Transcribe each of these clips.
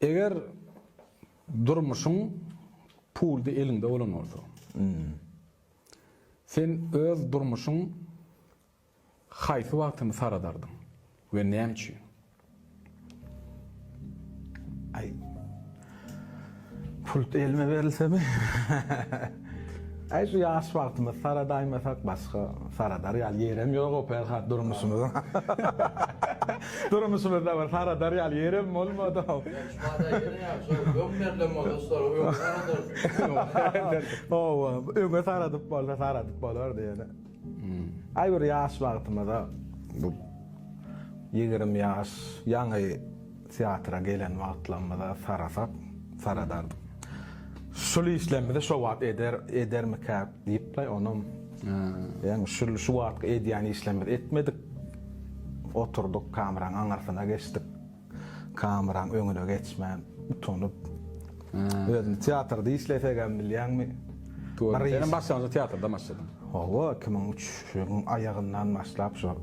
Eger durmuşyň puldy eliňde bolan bolsa, sen öz durmuşyň haýsy wagtyny saradardyň we näme üçin? Aý. Pult elime berilsemi? Äý şu ýaş wagtymyz saradaýmasak başga saradar ýaly ýerem ýoga Perhat durmuşymyzyň. Durmuşymyzda bir saradar ýaly ýerem bolmady-ow. Şumaday ýerem şol öň berlen bolsa şol öňe saradardy. Hawa, öňe saradyp bolsa saradyp bolardy ýöne. Äý bir ýaş wagtymyza bu ýigrimi ýaş ýaňy. Teatra gelen wagtlarymyza sarasak, saradardyk. Şul işlerimizi şo wagt eder, edermikäk diýip-de, onam, ýaňy şul, şu wagtky edýän işlerimizi etmedik. Oturdyk, kameraň aňyrsyna geçdik. Kameraň öňüne geçmän, utanyp. Özüni teatrda işlesegem bilýäňmi? Gördüm. Senem başlangyjy teatrda başladyň. Hawa, iki müň üç ýylyň aýagyndan başlap şo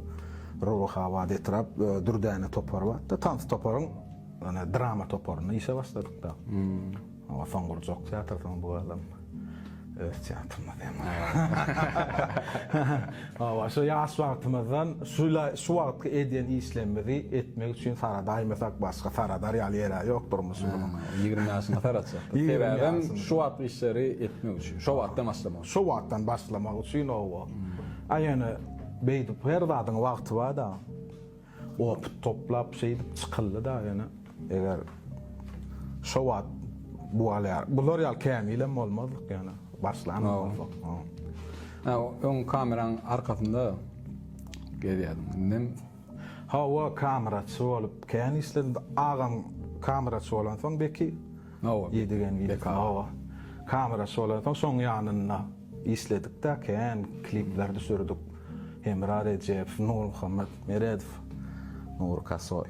Rubahabat etrap Dürdäne topary bardy. Tans toparyň ýöne drama toparynda işe başladyk-da. Hawa, soň gurjak teatr soň bu adam. Öz teatrymyz hem. Hawa, şu ýaş wagtymyzdan şula şu wagtky edýän işlerimizi etmek üçin saradaýmasak başga saradar ýaly ýere ýok durmuşymyzyň. Ýigrimi ýaşynda saratjakdyk. Sebäbem şu wagtky işleri etmek üçin, şo wagtdan başlamak üçin. Şo wagtdan başlamak üçin, hawa. A ýöne beýdip her zadyň wagty bar-da. Opyt toplap şeýdip çykyldy da ýöne eger şo wagt bular ýaly kämil hem bolmazdyk ýöne başlan hem bolsak. Öň kameraň arkasynda gezýärdiň indem. Hawa kameraçy bolup kän işledim agam kameraçy bolansoň beki. Hawa, Edigen wideo. Hawa. Kameraçy bolansoň şoň ýanynda işledik-de, kän klipler düşürdik. Hemra Rejeýew, Nurmuhammet Meredow, Nury Kasoý.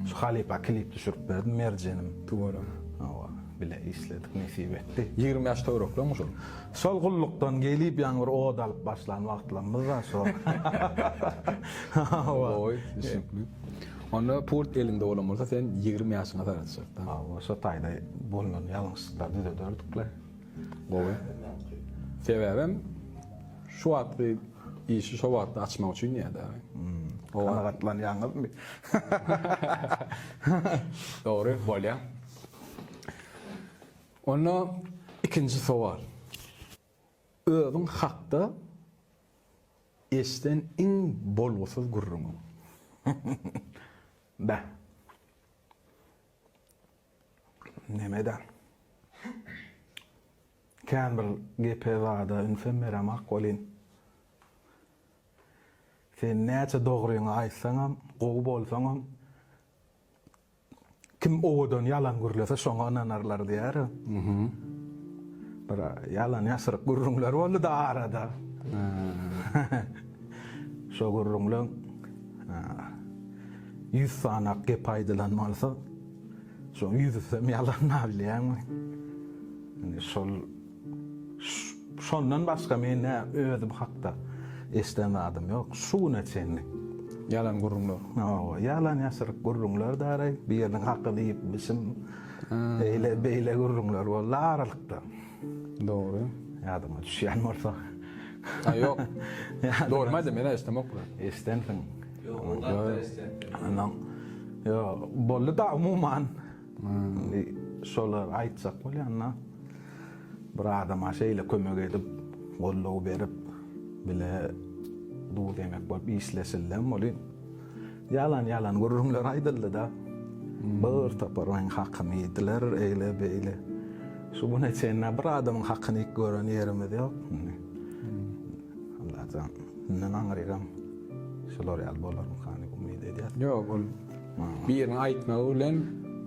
Şu halypa klip düşürip berdim, Merjenim. Tüweleme. Hawa, bile işledik, nesip etdi. Ýigrimi ýaş töwerekleňmi şol? Şol gullukdan gelip ýaňy bir ot alyp başlan wagtlarymyz-da şo. Hawa. Gowy, düşnükli. Onda pult eliňde bolan bolsa sen ýigrimi ýaşyňa sagatjak da. Hawa şo taýda bolnan ýalňyşlyklary düzederdik le. Gowy. Sebäbem şu wagtky işi şo wagtda açmak üçin diýýä de. Kanagatlanýaňyzmy? Dogry bolýa. Onda ikinji sowal. Özüň hakda eşden iň bolgusyz gürrüňi. Beh. Neme edäň. Kän bir gepe zada ünsem beremak welin, sen näçe dogryňy aýtsaňam, gowy bolsaňam, Kim owadan ýalan gürlese şoňa ynanarlar diýer. Bir ýalan ýasyryk gürrüňler boldy-da arada. Şo gürrüňleň ýüz sanak gep aýdylan bolsa, şoň ýüzüsem ýalan bolýarmy? Indi şol Şondan başga men nä özüm hakda eşden zadym ýok şu güne çenli. Ýalan gürrüňler. Hawa, ýalan ýaşryk gürrüňler daraý, biriniň hakyny iýipmişim, eýle beýle gürrüňler boldy aralykda. Dogry. Ýadyňa düşýän bolsa. Haý ýok. Dogry maýda men eşdemok bilen. Eşdensiň. Ýok, ol zatlar eşdendir. Ýok, boldy da umuman. Indi şolar aýtjak bolýanda bir adama şeýle kömek edip, goldaw berip, bile duz-ýemek bolup işleşildem welin, ýalan-ýalan gürrüňler aýdyldy-da. Bir topar meniň hakymy iýdiler, eýle-beýle. Şu güne çenli-ä bir adamyň hakyny iýip gören ýerimiz ýok. Indi, Allajan, kimden aňryýram, şular ýaly bolarmyka diýip umyt edýäs. Ýok, ol. Biriniň aýtmagy bilen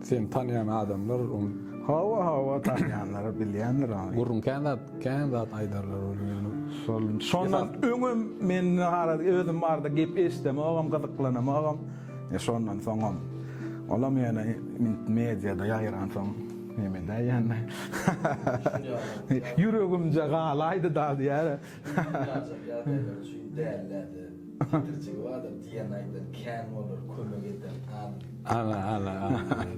seni tanýan adamlar ony. Hawa, hawa, tanýanlary bilýändir ony. Gürrüň kän zat, kän zat aýdarlar welin. Şol, şondan öňem men nahar edip, özüm barada gep eşidemogam, gyzyklanamogam. E, şondan soňam. Olam ýöne int mediada ýaýransoň, hem edäý ýöne. Ýüregimje galaýdy-da diýýär. Dünýäjik ýagdaýlar üçin däl-dä-de. Getirjegi bardyr diýen aýdan kän bolar kömek eden al. Al al al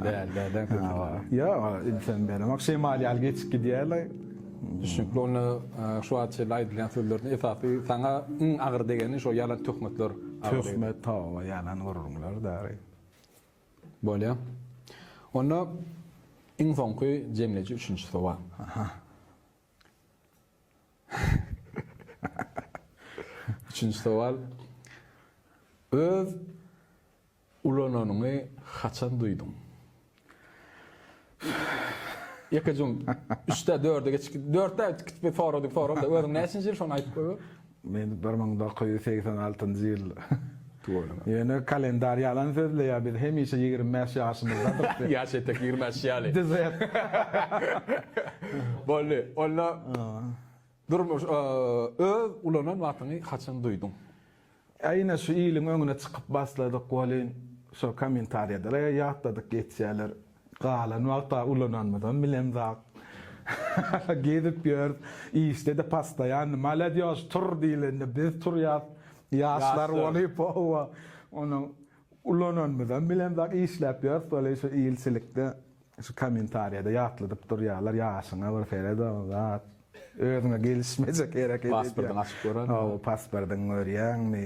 däl däl däl kömek. Ýok ilsen beremak şemal ýaly geçip gidýärler. Düşnükli onda şu wagt çenli aýdylýan sözlerden esasy saňa iň agyr degeni şo ýalan töhmetler. Töhmet toba ýalan gürrüňler däri. Bolýa. Onda iň soňky jemleýji üçünji sowal. Aha. Üçünji sowal, Öz ulananyňy haçan duýduň? Ýekeje-ň üçde, dörde geçip, dörtde gitip soradyk sorag-da, özüň näçinji ýyl şony aýdyp goýber? Men bir müň dokuz ýüz segsen altynjy ýyl. Ýöne kalendar ýalan sözleýär, biz hemişe ýigrimi bäş ýaşymyzdadyk diýip. Ýaş etek ýigrimi bäş ýaly. Dizet. Boldy. Onda durmuş öz ulanan wagtyňy haçan duýduň? Ýa ine şu iliň öňüne çykyp basladyk welin şo kommentariýalara ýatladyk geçýärler. Galan wagta ulananmyzam bilemzok. Gezip ýörüs, işde-de postoýanny. Maladýos, tur diýlende biz turýas. Ýaşlar bolup, howa. Ony ulananmyzam bilemzok. Işläp ýörüs welin şu ilçilikde, şu kommentariýada ýatladyp durýarlar, ýaşyňa bir seret-a, zat. Özüňe gelişmejek hereket edýäň. Pasportyňy açyp görermiň? Hawa, pasportyňy görýäňmi?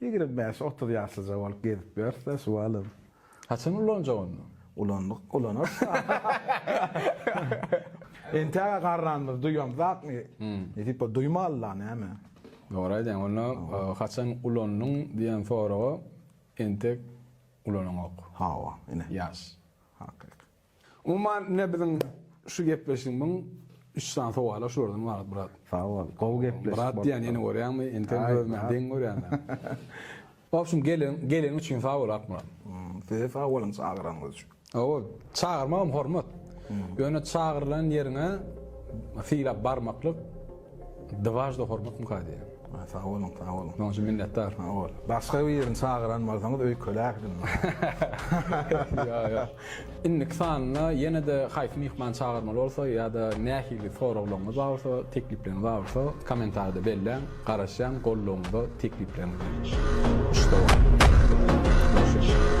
Ýigrimi bäş, otuz ýaşlyja bolup gezip ýörse şu alym. Haçan ulanjak onda? Ulandyk, ulanarys da. Entäge garranymyz duýamzakmy? Nesipe duýmaly-la, näme? Dogry aýdýaň. Onda haçan ulandyň diýen soraga entek ulanaňok. Hawa, ine. Ýaş. Hakyky. Umuman, ine biziň şu gepleşigimiň üç sany sowala şulardan ybarat, brat. Sag bol. Gowy gepleşik bolupdyr. Brat diýýän ýene görýäňmi? Entegem özüme deň görýän. Obşim, gelen, geleniň üçin sag bol, Akmyrat. Size sag boluň çagyranyňyz üçin. Hawa, çagyrmagam hormat. Ýöne çagyrylan ýeriňe sylap barmaklyk. Dwažda hormat mukadde. Sag boluň, sag boluň. Munuň üçin minnetdar. Sag bol. Başga birini çagyran bolsaňyz öýkeläkdim. Ýok, ýok. Indiki sanyna ýene-de haýsy myhman çagyrmaly bolsa ýa-da nähili soraglaryňyz bar bolsa, teklipleriňiz bar bolsa, komentarda belläň, garaşýan goldawyňyza, teklipleriňize. Muşdagyň.